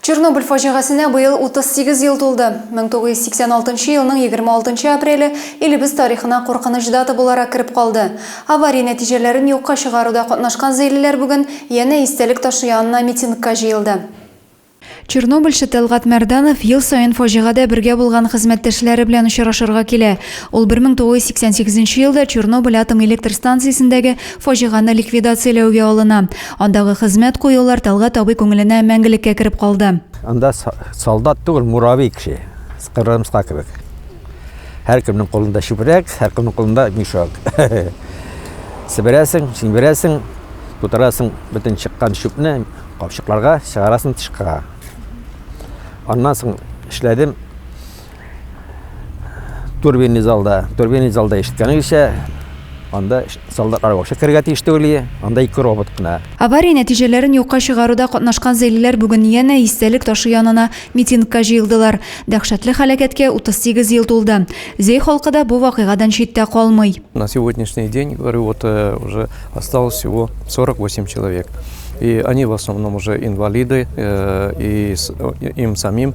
Чернобыль фаҗигасенә быел 38 ел тулды. 1986 елның 26 апреле илебез тарихына куркыныч дата буларак кереп калды. Авария нәтиҗәләрен юкка чыгаруда катнашкан зәйлеләр бүген янә истәлек ташы янына митингка җыелды. Чернобыльчы Тәлгать Мәрданов ел саен фаҗигадә бергә булган хезмәттәшләре белән очрашырга килә. Ул 1988 елда Чернобыль атом электр станциясендәге Фаҗиганы ликвидацияләүгә алына. Андагы хезмәт куюлар Тәлгать абый күңеленә мәңгелеккә кереп калды. Анда солдат түгел, муравей кеше. Кырымска кебек. Һәркемнең кулында чүпрәк, һәркемнең кулында мешок. Себерәсең, чимерәсең, тутырасың бөтен чыккан чүпне капчыкларга, чыгарасың тышка. Аннан соң эшләдем. Турбинный залда, турбинный залда ишеткәнегезчә, анда солдат арбашы керергә тиеш түгел анда ике робот кына авария нәтиҗәләрен юкка чыгаруда катнашкан зәйлеләр бүген янә истәлек ташы янына митингка җыелдылар дәһшәтле һәлакәткә 38 ел тулды зәй халкы да бу вакыйгадан читтә калмый на сегодняшний день говорю вот э, уже осталось всего 48 человек и они в основном уже инвалиды э, и э, им самим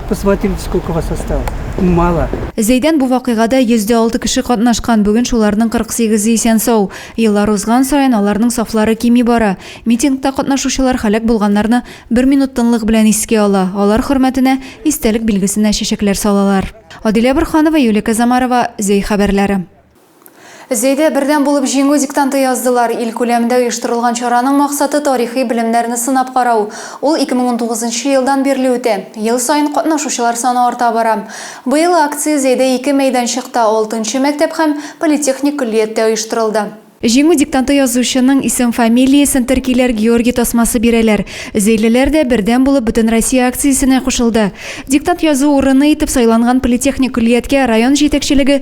Посмотрите, сколько вас осталось. Мало. Зәйдән бу вакыйгада 106 кеше катнашкан, бүген шуларның 48-е исән-сау. Еллар узган саен аларның сафлары кими бара. Митингта катнашучылар һәлак булганнарны бер минут тынлык белән искә ала, алар хөрмәтенә истәлек билгесенә чәчәкләр салалар. Адилә Борһанова, Юлия Казамарова, Зәй хәбәрләре. Зәйдә бердәм булып җиңү диктанты яздылар. Ил күләмендә оештырылган чараның максаты тарихи белемнәрне сынап карау. Ул 2019 нчы елдан бирле үтә. Ел саен катнашучылар саны арта бара. Быел акция Зәйдә ике мәйданчыкта, алтынчы мәктәп һәм политехник көллияттә оештырылды. Җиңү диктанты язучының исем-фамилиясен теркиләр, Георгий тасмасы бирәләр. Зәйлеләр дә бердәм булып Бөтенроссия акциясенә кушылды. Диктант язу урыны итеп сайланган политехник көллияткә район җитәкчелеге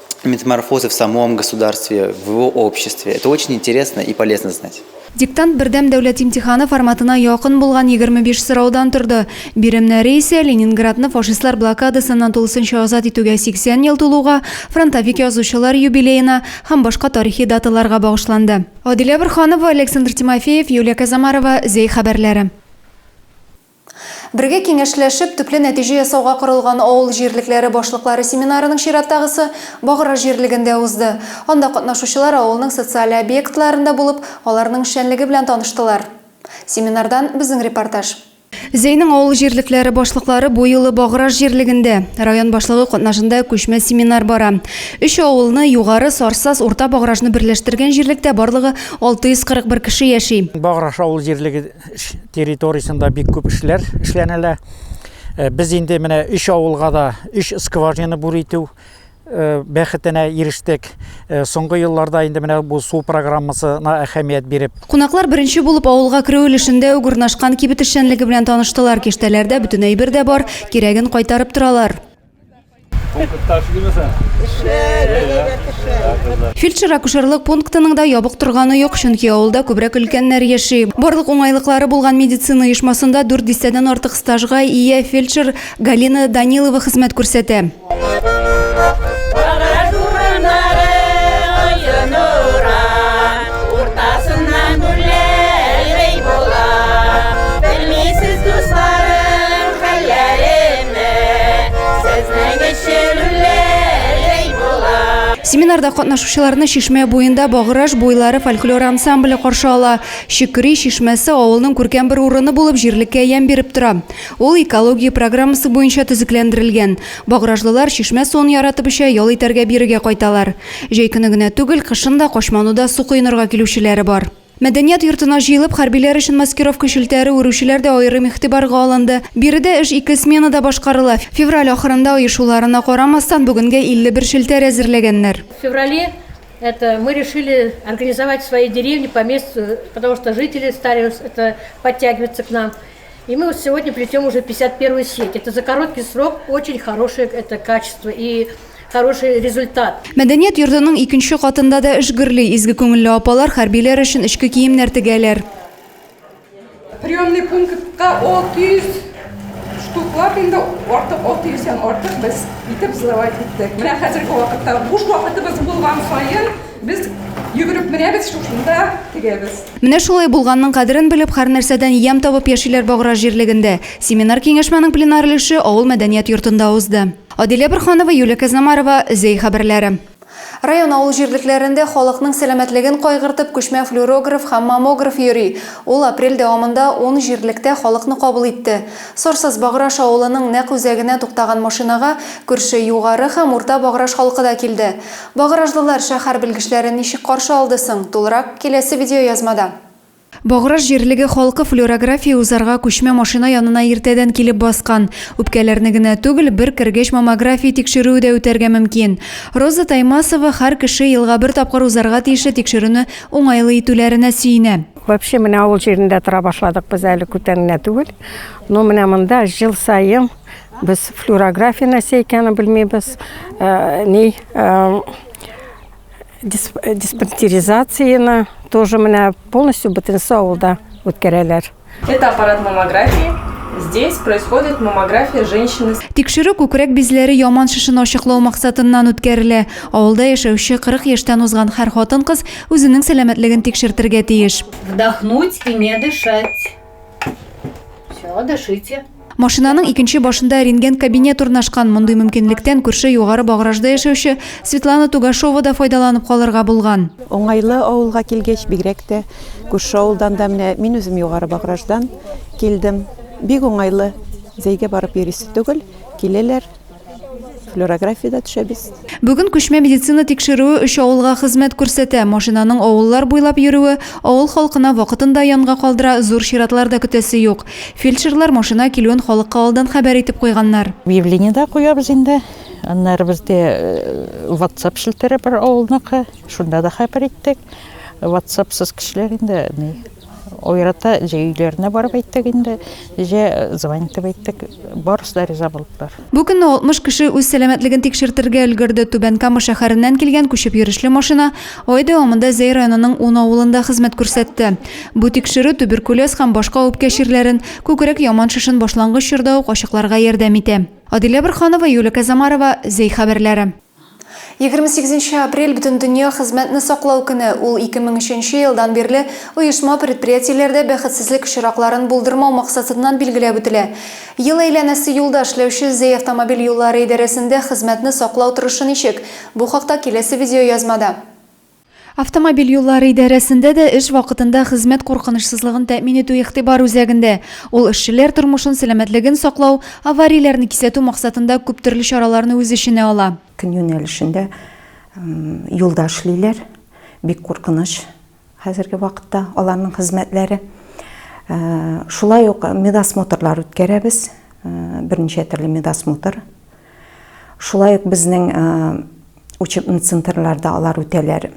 метаморфозы в самом государстве, в его обществе. Это очень интересно и полезно знать. Диктант бердәм дәүләт имтиханы форматына якын булган 25 сораудан торды. Биремнәре исә Ленинградны фашистлар блокадасыннан тулысынча азат итүгә 80 ел тулуга, фронтовик язучылар юбилеена һәм башка тарихи даталарга багышланды. Адилә Борханова, Александр Тимофеев, Юлия Казамарова, Зәй хәбәрләре. Бергә киңәшләшеп, төпле нәтиҗә ясауга корылган авыл җирлекләре башлыклары семинарының чираттагысы Багра җирлегендә узды. Анда катнашучылар авылның социаль объектларында булып, аларның эшчәнлеге белән таныштылар. Семинардан безнең репортаж. Зәйнең авыл җирлекләре башлыклары бу юлы Багра җирлегендә. Район башлыгы катнашында күчмә семинар бара. Өч авылны, Югары, Сарсаз, Урта Багражны берләштергән җирлектә барлыгы 641 кеше яши. Баграж авыл җирлеге территориясендә бик күп эшләр эшләнелә. Э, без инде менә өч авылга да өч скважина бур итү э, бәхетенә ирештек. Э, соңгы елларда инде менә бу су программасына әһәмият биреп. Кунаклар беренче булып авылга керү өлешендә үк урнашкан кибет эшчәнлеге белән таныштылар. Киштәләрдә бөтен әйбер дә бар, кирәген кайтарып торалар. Фельдшер-акушерлык пунктының да ябык торганы юк, чөнки авылда күбрәк өлкәннәр яши. Барлык уңайлыклары булган медицина оешмасында дүрт дистәдән артык стажга ия фельдшер Галина Данилова хезмәт күрсәтә. Семинарда катнашучыларны Чишмә буенда Баграж буйлары фольклор ансамбле каршы ала. Чикри чишмәсе авылның күркәм бер урыны булып җирлеккә ямь биреп тора. Ул экология программасы буенча төзекләндерелгән. Багражлылар чишмә суын яратып эчә, ял итәргә бирегә кайталар. Җәй көне генә түгел, кышын да Качмануда су коенырга килүчеләре бар. Мәдәният йортына җыелып, хәрбиләр өчен маскировка челтәре үрүчеләр дә аерым игътибарга алынды. Биредә эш ике сменада башкарыла. Февраль ахырында оешуларына карамастан, бүгенгә 51 челтәр әзерләгәннәр. В феврале это мы решили организовать свои деревни по месту, потому что жители стали это подтягиваться к нам. И мы вот сегодня плетем уже 51 сеть. Это за короткий срок очень хорошее это качество и хороший результат. Мәдәният йортының икенче катында да эш гөрли. Изге күңелле апалар хәрбиләр өчен эчке киемнәр тегәләр. Приемный пунктка 600 штуклар инде артык 600 һәм артык без итеп сдавать иттек. Менә хәзерге вакытта буш вакытыбыз булган саен Без йөгереп менәбез, шушында тегәбез. Менә шулай булганның кадерен белеп, һәрнәрсәдән ямь табып яшиләр Баграж җирлегендә. Семинар-киңәшмәнең пленар өлеше авыл мәдәният йортында узды. Адилә Борханова, Юлия Казнамарова, Зәй хәбәрләре. Район авыл җирлекләрендә халыкның сәламәтлеген кайгыртып күчмә флюорограф һәм маммограф йөри. Ул апрель дәвамында ун җирлектә халыкны кабул итте. Сорсыз Баграж авылының нәкъ үзәгенә туктаган машинага күрше Югары һәм Урта Баграж халкы да килде. Багражлылар шәһәр белгечләрен ничек каршы алды соң? Тулырак, киләсе видеоязмада. Баграж җирлеге халкы флюорография узарга күчмә машина янына иртәдән килеп баскан. Үпкәләрне генә түгел, бер кергәч маммография тикшерүе дә үтәргә мөмкин. Роза Таймасова һәр кеше елга бер тапкыр узарга тиешле тикшерүне уңайлы итүләренә сөенә. Вообще менә авыл җирендә тора башладык без әле күптән генә түгел. Но менә монда ел саен Без флюорография нәрсә икәнен белмибез. Э, ни э, диспансеризацияне тоже менә полностью бөтенесе авылда үткәрәләр. Это аппарат маммографии. Здесь происходит маммография женщины. Тикшерү күкрәк бизләре яман шешен ачыклау максатыннан үткәрелә. Авылда яшәүче 40 яшьтән узган һәр хатын-кыз үзенең сәламәтлеген тикшертергә тиеш. Вдохнуть и не дышать. Все, дышите. Машинаның икенче башында рентген кабинет урнашкан. Мондый мөмкинлектән күрше югары багражда яшәүче Светлана Тугашова да файдаланып калырга булган. Уңайлы авылга килгәч, бигрәк тә күрше авылдан да менә мин үзем югары баграждан килдем. Бик уңайлы. Зәйгә барып йөрисе түгел, киләләр. флюорографиядә төшәбез. Бүген күчмә медицина тикшерүе өч авылга хезмәт күрсәтә. Машинаның авыллар буйлап йөрүе авыл халкына вакытында янга калдыра, зур чиратлар да көтәсе юк. Фельдшерлар машина килүен халыкка алдан хәбәр итеп куйганнар. Объявление дә куябыз инде. Аннары бездә WhatsApp э, челтәре бар авылныкы. Шунда да хәбәр иттек. WhatsAppсыз кешеләр инде Ойрата, җә өйләренә барып әйттек инде, җә звонить итеп әйттек. Барысы да риза булдылар. Бу көнне 60 кеше үз сәламәтлеген тикшертергә өлгерде. Түбән Кама шәһәреннән килгән күчеп йөрешле машина ай дәвамында Зәй районының ун авылында хезмәт күрсәтте. Бу тикшерү туберкулез һәм башка үпкә чирләрен, күкрәк яман шешен башлангыч чорда ук ачыкларга ярдәм итә. Адилә Борһанова, Юлия Казамарова, Зәй хәбәрләре. Егерме сигезенче апрель Бөтендөнья хезмәтне саклау көне, ул ике мең өченче елдан бирле оешма-предприятиеләрдә бәхетсезлек очракларын булдырмау максатыннан билгеләп үтелә. Ел әйләнәсе юлда эшләүче Зәй автомобиль юллары идарәсендә хезмәтне саклау торышы ничек? Бу хакта киләсе видеоязмада. Автомобиль юллары идарәсендә дә эш вакытында хезмәт куркынычсызлыгын тәэмин итү игътибар үзәгендә. Ул эшчеләр тормышын, сәламәтлеген саклау, аварияләрне кисәтү максатында күп төрле чараларны үз эченә ала. Көн юнәлешендә юлда эшлиләр, бик куркыныч хәзерге вакытта аларның хезмәтләре. Шулай ук медосмотрлар үткәрәбез, берничә төрле медосмотр. Шулай ук безнең учебный центрларда алар үтәләр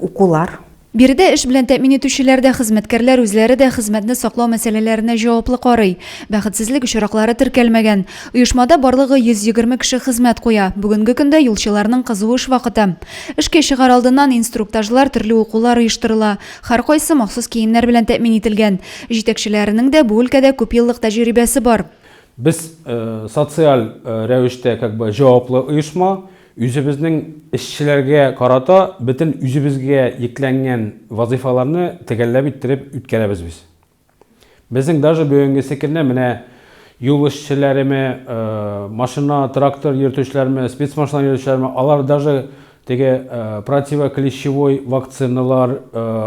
укулар. Биредә эш белән тәэмин итүчеләр дә, хезмәткәрләр үзләре дә хезмәтне саклау мәсьәләләренә җаваплы карый. Бәхетсезлек очраклары теркәлмәгән. Оешмада барлыгы 120 кеше хезмәт куя. Бүгенге көндә юлчыларның кызу эш вакыты. Эшкә чыгар алдыннан инструктажлар, төрле укулар оештырыла. Һәркайсы махсус киемнәр белән тәэмин ителгән. Җитәкчеләренең дә бу өлкәдә күпьеллык тәҗрибәсе бар. Без социаль рәвештә как бы җаваплы оешма, үзебезнең эшчеләргә карата бөтен үзебезгә йөкләнгән вазыйфаларны төгәлләп иттереп үткәрәбез без. Безнең даже бүгенгесе көнне менә юл эшчеләреме, машина, трактор йөртүчеләрме, спецмашина йөртүчеләрме, алар даже Теге противоклещевой вакциналар,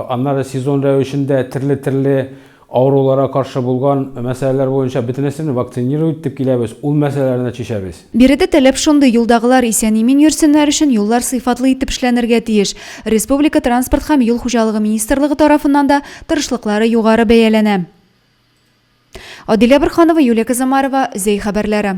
аннары сезон рәвешендә терле-терле авыруларга каршы булган мәсьәләләр буенча бөтенесен вакцинировать итеп киләбез, ул мәсьәләләрне чишәбез. Биредә таләп шундый, юлдагылар исән-имин йөрсеннәр өчен юллар сыйфатлы итеп эшләнергә тиеш. Республика Транспорт һәм юл хуҗалыгы министрлыгы тарафыннан да тырышлыклары югары бәяләнә. Адилә Борһанова, Юлия Казамарова, Зәй хәбәрләре.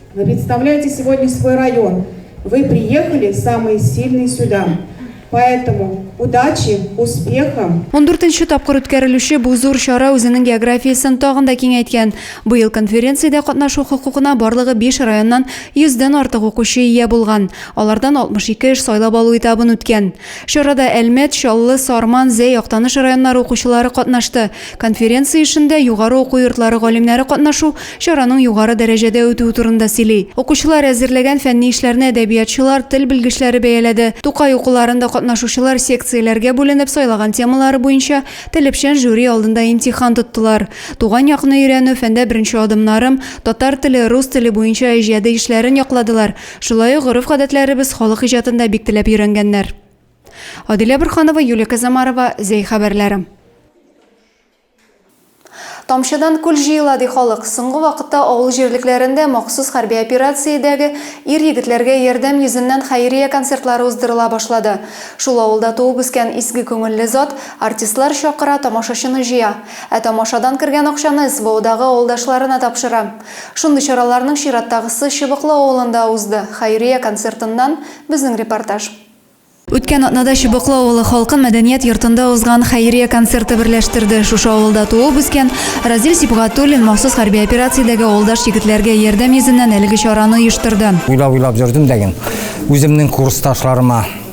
Вы представляете сегодня свой район, вы приехали самые сильные сюда, поэтому удачи, успеха. Ундүртенче тапкыр үткәрелүче бу зур чара үзенең географиясен тагын да киңәйткән. Быел конференциядә катнашу хокукына барлыгы биш районнан йөздән артык укучы ия булган. Алардан 62 эш сайлап алу этабын үткән. Чарада Әлмәт, Чаллы, Сарман, Зәй, Актаныш районнары укучылары катнашты. Конференция эшендә югары уку йортлары галимнәре катнашу чараның югары дәрәҗәдә үтүе турында сөйли. Укучылар әзерләгән фәнни эшләрне әдәбиятчылар, тел белгечләре бәяләде. Тукай укуларында катнашучылар секцияләргә бүленеп сайлаган темалары буенча телепчән жюри алдында имтихан тоттылар. Туган якны өйрәнү, фәндә беренче адымнарым, татар теле, рус теле буенча иҗади эшләрен якладылар. Шулай ук гореф-гадәтләребез халык иҗатын да бик теләп өйрәнгәннәр. Адилә Борханова, Юлия Казамарова, Зәй хәбәрләре. Тамчыдан күл җыела, ди халык. Соңгы вакытта авыл җирлекләрендә махсус хәрби операциядәге ир-егетләргә ярдәм йөзеннән хәйрия концертлары уздырыла башлады. Шул авылда туып-үскән изге күңелле зат артистлар чакыра, тамашачыны җыя. Ә тамашадан кергән акчаны СВОдагы авылдашларына тапшыра. Шундый чараларның чираттагысы Чыбыклы авылында узды. Хәйрия концертыннан безнең репортаж. Үткән атнада Чыбыклы авылы халкын мәдәният йортында узган хәйрия концерты берләштерде. Шушы авылда туып-үскән Разил Сибгатуллин махсус хәрби операциядәге авылдаш егетләргә ярдәм йөзеннән әлеге чараны оештырды. Уйлап-уйлап йөрдем дә гел үземнең курсташларыма.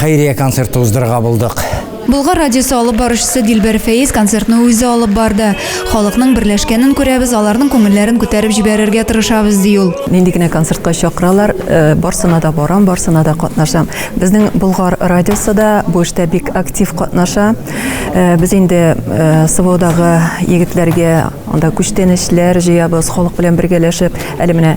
Хәйрия концерты уздырырга булдык. Болгар радиосы алып баручысы Дилбәр Фәиз концертны үзе алып барды. Халыкның берләшкәнен күрәбез, аларның күңелләрен күтәреп җибәрергә тырышабыз, ди ул. Нинди генә концертка чакыралар, барсына да барам, барсына да катнашам. Безнең Болгар радиосы да бу эштә бик актив катнаша. Без инде СВОдагы егетләргә анда күчтәнәчләр җыябыз, халык белән бергәләшеп. Әле менә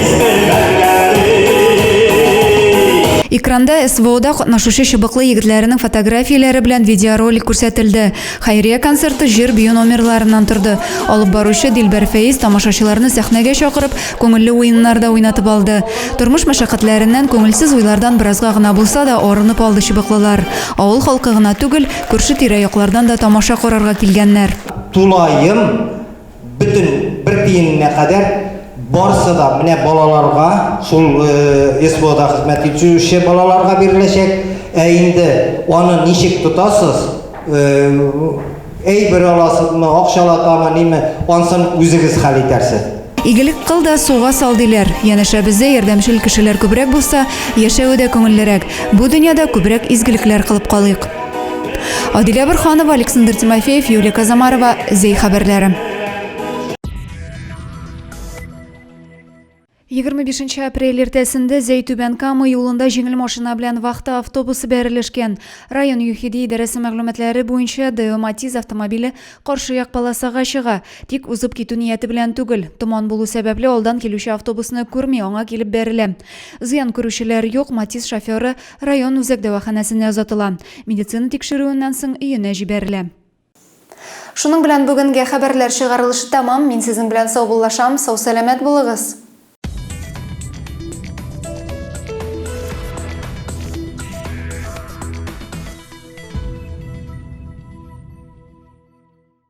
Экранда СВОда катнашучы чыбыклы егетләренең фотографияләре белән видеоролик күрсәтелде. Хәйрия концерты җыр бию номерларыннан торды. Алып баручы Дилбәр Фәиз тамашачыларны сәхнәгә чакырып, күңелле уеннар да уйнатып алды. Тормыш мәшәкатьләреннән, күңелсез уйлардан беразга гына булса да арынып алды чыбыклылар. Авыл халкы гына түгел, күрше-тирә яклардан да тамаша карарга килгәннәр. Тулаем Бөтен бер тиененә кадәр барысы да менә балаларга, шул СВОда хезмәт итүче балаларга биреләчәк. Ә инде аны ничек тотасыз? Әйбер аласызмы, акчалатамы, ниме? Ансын үзегез хәл итәрсез. Игелек кыл да суга сал диләр. Янәшәбездә ярдәмчел кешеләр күбрәк булса, яшәве дә күңеллерәк. Бу дөньяда күбрәк изгелекләр кылып калыйк. Адилә Бөрханова, Александр Тимофеев, Юлия Казамарова, Зей хәбәрләре. 25 апрель иртәсендә Зәйтүбән Кама юлында җиңел машина белән вахта автобусы бәрелешкән. Район ЮХИДИ идарәсе мәгълүматлары буенча ДЭО Матиз автомобиле каршы як полосага чыга, тик узып китү нияте белән түгел. Томан булу сәбәпле алдан килүче автобусны күрми, аңа килеп бәрелә. Зыян күрүчеләр юк, Матиз шоферы Район үзәк дәваханәсенә озатыла. Медицина тикшерүеннән соң өенә җибәрелә. Шуның белән бүгенге хәбәрләр чыгарылышы тәмам. Мин сезнең белән саубуллашам. Сау-сәламәт булыгыз!